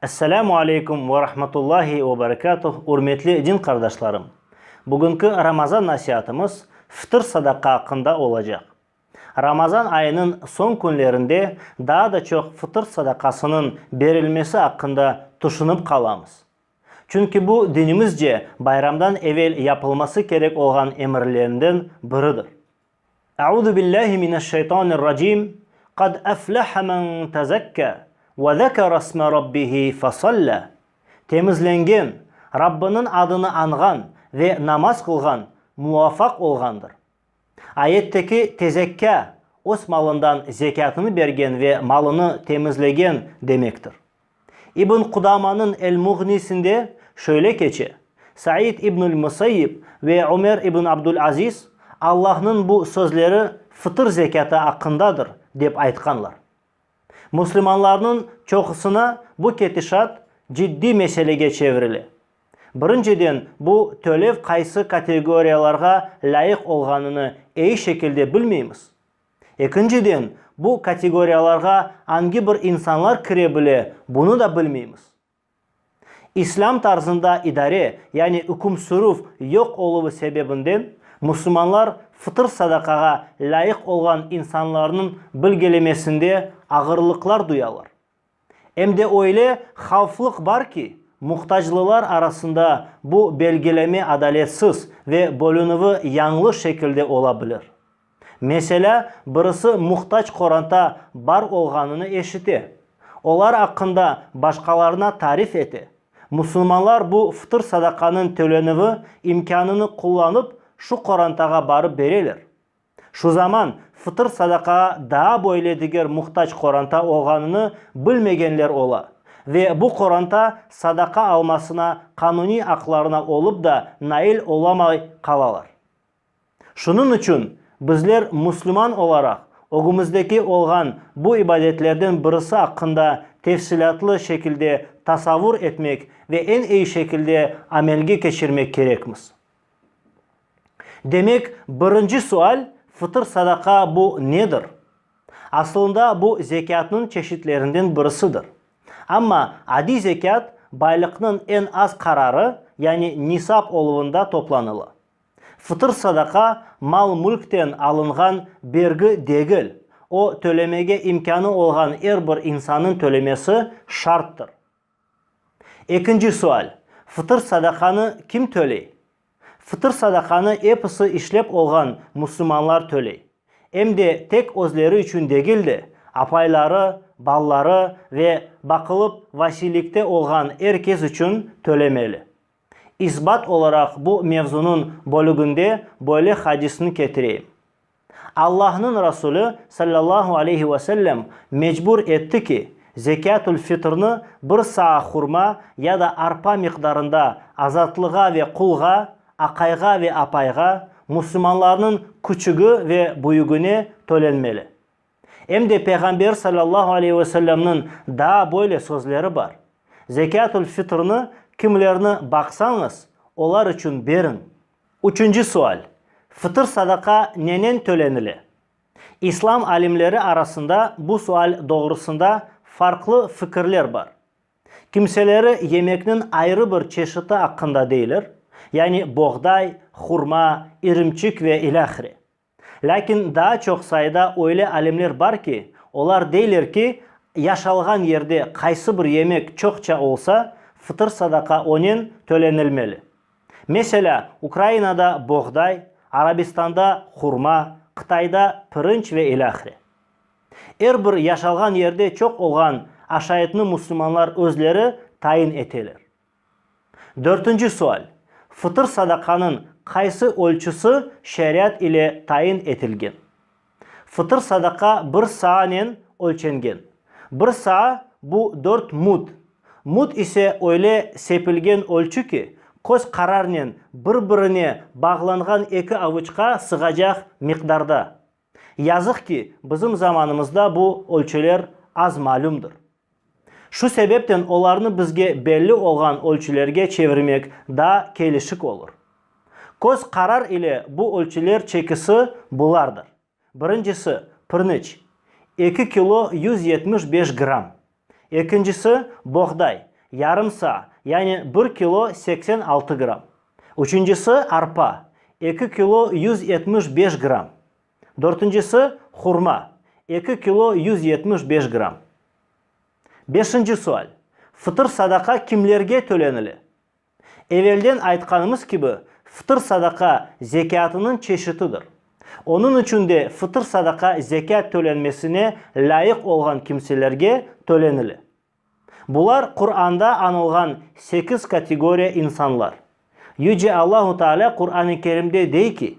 Esselamu aleykum ve rahmetullahi ve berekatuh ürmetli din qardaşlarım! Bugünki Ramazan nasiatımız fıtır sadaqa aqqında olacaq. Ramazan ayınıñ soñ künlerinde daa da çoq fıtır sadaqasınıñ berilmesi aqqında tüşünip qalamız. Çünki bu, dinimizce, bayramdan evel yapılması kerek olğan emirlerinden biridir. Euzu billahi mineşşeytanirracim, Qad eflehe men tezekka ve zekeresme Rabbihi fesalla, Temizlengen, Rabbınıñ adını añğan ve namaz qılğan muvafaq olğandır. Ayetteki tezekkâ, öz malından zekâtını bergen ve malını temizlegen demektir. İbn Qudamanıñ El-Muğnisinde şöyle keçe, Said ibnül Musayyib ve Ömer ibn Abdul-Aziz Allahnıñ bu sözleri fıtır zekâtı aqqındadır, dep aytqanlar. Müslümanlarnıñ çoqusına bu ketişat ciddiy meselege çevirile. Birinciden, bu tölev qaysı kategoriyalarğa lâyıq olğanını eyi şekilde bilmeymiz. Ekinciden, bu kategoriyalarğa angi bir insanlar kire bile, bunı da bilmeymiz. İslâm tarzında idare, yani üküm sürüv yoq oluvı sebebinden, musulmanlar fıtır sadaqağa lâyıq olğan insanlarnıñ bilgelemesinde ağırlıqlar duyalar. Em de öyle havflıq bar ki, muhtaclılar arasında bu belgileme adaletsiz ve bölünüvi yañlı şekilde ola bilir. Meselâ, birisi muhtac qoranta bar olğanını eşite, olar aqqında başqalarına tarif ete. Musulmanlar bu fıtır sadaqanıñ tölenüvi imkânını qullanıp, şu qorantağa barıp bereler. Şu zaman fıtır sadaqağa daa böyle diger muhtac qoranta olğanını bilmegenler ola ve bu qoranta sadaqa almasına qanuniy aqlarına olıp da nail olamay qalalar. Şunıñ içün bizler müslüman olaraq ögümizdeki olğan bu ibadetlerden birisi aqqında tefsilâtlı şekilde tasavur etmek ve eñ iyi şekilde amelge keçirmek kerekmiz. Demek, birinci sual, fıtır sadaqa bu nedir? Asılında bu zekâtnıñ çeşitlerinden birisidir. Amma adiy zekât baylıqnıñ eñ az qararı, yani nisap oluvında toplanıla. Fıtır sadaqa mal-mülkten alınğan bergi degil, o, tölemege imkânı olğan er bir insannıñ tölemesi şarttır. Ekinci sual, Fıtır sadaqanı kim töley? Fıtır sadaqanı episi işlep olğan musulmanlar töley, em de tek özleri içün degil de, apayları, balaları ve baqılıp vasiylikte olğan er kes içün tölemeli. İsbat olaraq bu mevzunıñ bölüginde böyle hadisni ketireyim. Allahnıñ Rasulü, sallallahu aleyhi ve sellem, mecbur etti ki, zekâtul fitrni bir saa hurma ya da arpa miqdarında azatlığa ve qulğa, aqayğa ve apayğa, musulmanlarnıñ küçügi ve büyügine tölenmeli. Em de Peyğamber salâllahu aleyh ve sellemniñ daa böyle sözleri bar, Zekâtul fitrni kimlerni baqsañız, olar içün beriñ. Üçünci sual, Fıtır sadaqa nenen tölenile? İslam alimleri arasında bu sual doğrusında farqlı fikirler bar. Kimseleri yemekniñ ayrı bir çeşiti aqqında deyler, yani boğday, hurma, irimçik ve ilâhre. Lâkin daa çoq sayıda öyle alimler bar ki, olar deyler ki, yaşalğan yerde qaysı bir yemek çoqça olsa, fıtır sadaqa onen tölenilmeli. Meselâ, Ukrainada boğday, Arabistanda hurma, Qıtayda pirinç ve ilâhre. Er bir yaşalğan yerde çoq olğan aşaytnı müslümanlar özleri tayin eteler. Dörtünci sual, Fıtır sadaqanıñ qaysı ölçüsi şariat ile tayin etilgen? Fıtır sadaqa bir saanen ölçengen. Bir saa, bu dört mud. Mud ise öyle sepilgen ölçü ki, köz qararnen bir-birine bağlanğan eki avıçqa sığacaq miqdarda. Yazıq ki, bizim zamanımızda bu ölçüler az malümdir. Şu sebepten olarnı bizge belli olğan ölçülerge çevirmek daa kelişik olur. Köz qarar ile bu ölçüler çekisi bulardır, birincisi, pirniç, eki kilo yüz yetmiş beş gram, Ekincisi, boğday, yarım saa, yani bir kilo seksen altı gram. Üçüncisi, arpa, eki kilo yüz yetmiş beş gram. Dörtüncisi, hurma, eki kilo yüz yetmiş beş gram. Beşinci sual, Fıtır-sadaqa kimlerge tölenile? Evelden aytqanımız kibi, fıtır sadaqa zekâtınıñ çeşitidir. Onıñ içün de fıtır sadaqa zekât tölenmesine lâyıq olğan kimselerge tölenile. Bular Quranda añılğan sekiz kategoriya insanlar. Yüce Allahu Taalâ Quran-i Kerimde dey ki,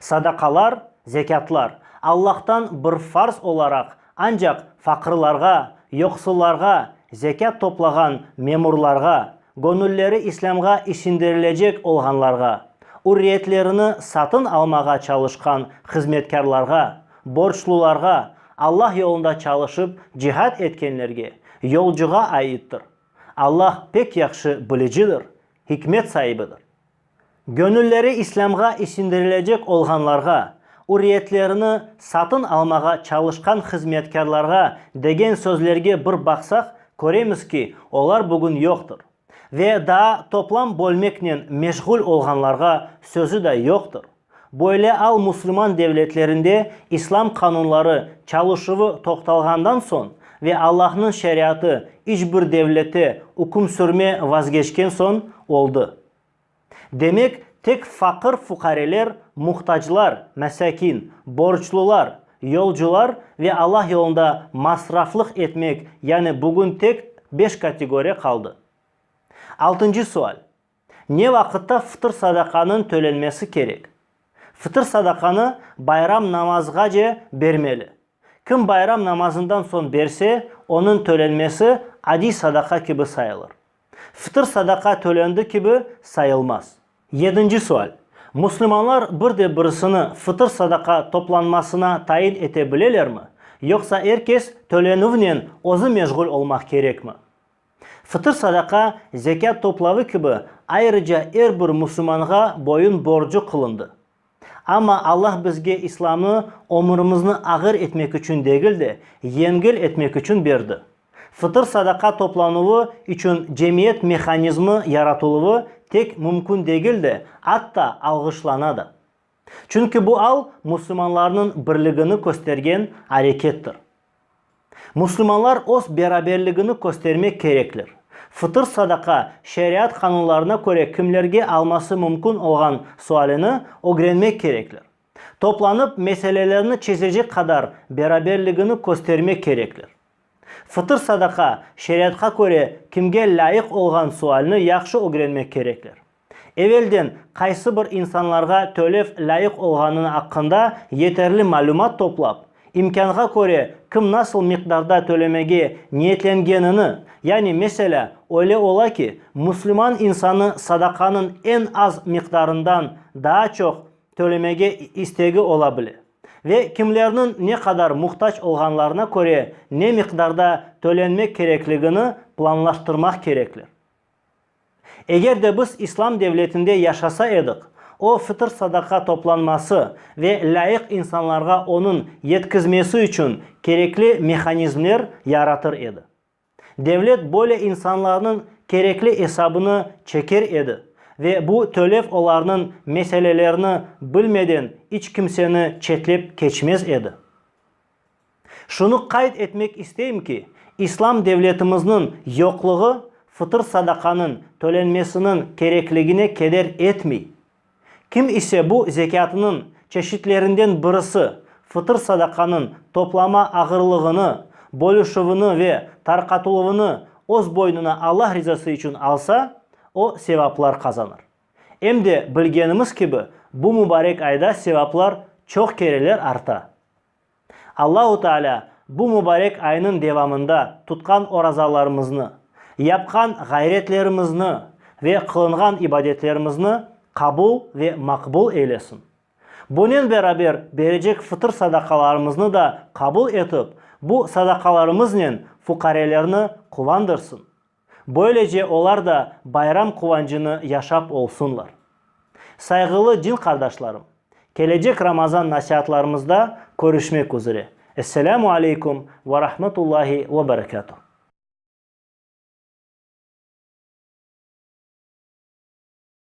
Sadaqalar, zekâtlar, Allahtan bir farz olaraq, ancaq faqırlarğa, yoqsullarğa, zekât toplağan memurlarğa, göñülleri İslâmğa isindirlecek olğanlarğa, ürriyetlerini satın almağa çalışqan hızmetkârlarğa, borçlularğa, Allah yolunda çalışıp cihad etkenlerge, yolcuğa aittir. Allah pek yahşı bilicidir, hikmet saibidir. Göñülleri İslâmğa isindirilecek olğanlarğa, ürriyetlerini satın almağa çalışqan hızmetkârlarğa degen sözlerge bir baqsaq, köremiz ki, olar bugün yoqtır. Ve daa toplam bölmeknen meşğul olğanlarğa sözü da yoqtır. Böyle al musulman devletlerinde İslam qanunları çalışuvı toqtalğandan soñ ve Allahnıñ şeriatı iç bir devlette üküm sürme vazgeçken soñ oldı. Demek, tek faqır-fuqareler, muhtaclar, mesâkin, borçlular, yolcular ve Allah yolunda masraflıq etmek, yani bugün tek beş kategoriya qaldı. Altıncı sual. Ne vaqıtta fıtır-sadaqanıñ tölenmesi kerek? Fıtır-sadaqanı bayram namazğace bermeli. Kim bayram namazından soñ berse, onıñ tölenmesi adiy sadaqa kibi sayılır. Fıtır-sadaqa tölendi kibi sayılmaz. Yedinci sual. Müslümanlar bir de birisini fıtır-sadaqa toplanmasına tayin ete bilelermi, yoqsa er kes tölenüvnen özü meşğul olmaq kerekmi? Fıtır sadaqa, zekât toplavı kibi, ayrıca er bir musulmanğa boyun borcu qılındı. Amma Allah bizge İslamnı ömürimizni ağır etmek içün degil de, yengil etmek içün berdi. Fıtır sadaqa toplanuvı içün cemiyet mehanizmi yaratıluvı tek mümkün degil de, atta alğışlana da. Çünki bu al musulmanlarnıñ birligini köstergen arekettir. Musulmanlar öz beraberligini köstermek kerekler. Fıtır sadaqa şeriat qanunlarına köre kimlerge alması mümkün olğan sualini ögrenmek kerekler. Toplanıp meselelerni çezecek qadar beraberligini köstermek kerekler. Fıtır sadaqa şeriatqa köre kimge lâyıq olğan sualini yahşı ögrenmek kerekler. Evelden qaysı bir insanlarğa tölev lâyıq olğanını aqqında yeterli malümat toplap, imkânğa köre kim nasıl miqdarda tölemege niyetlengenini, yani meselâ, öyle ola ki, müslüman insanı sadaqanıñ eñ az miqdarından daa çoq tölemege istegi ola bile ve kimlerniñ ne qadar muhtac olğanlarına köre ne miqdarda tölenmek kerekligini planlaştırmaq kerekler. Eger de biz İslam devletinde yaşasa edik, o fıtır-sadaqa toplanması ve lâyıq insanlarğa onıñ yetkizmesi içün kerekli mehanizmler yaratır edi. Devlet böyle insanlarnıñ kerekli esabını çeker edi ve bu tölev olarnıñ meselelerini bilmeden iç kimseni çetlep keçmez edi. Şunı qayd etmek isteyim ki, İslam devletimizniñ yoqluğı fıtır sadaqanıñ tölenmesiniñ kerekligine keder etmey. Kim ise bu zekâtınıñ çeşitlerinden birisi, fıtır sadaqanıñ toplama ağırlığını, bölüşüvini ve tarqatıluvını öz boynuna Allah rizası içün alsa, o sevaplar qazanır. Em de bilgenimiz kibi, bu mübarek ayda sevaplar çoq kereler arta. Allahu Taalâ bu mubarek aynıñ devamında tutqan orazalarımıznı, yapqan ğayretlerimizni ve qılınğan ibadetlerimizni qabul ve maqbul eylesin. Bunen beraber berecek fıtır sadaqalarımıznı da qabul etip, bu sadaqalarımıznen fuqarelerni quvandırsın. Böylece olar da bayram quvancını yaşap olsunlar. Sayğılı din qardaşlarım, kelecek Ramazan nasiatlarımızda körüşmek üzre. Esselâmu aleykum ve rahmetullahi ve berekâtuh.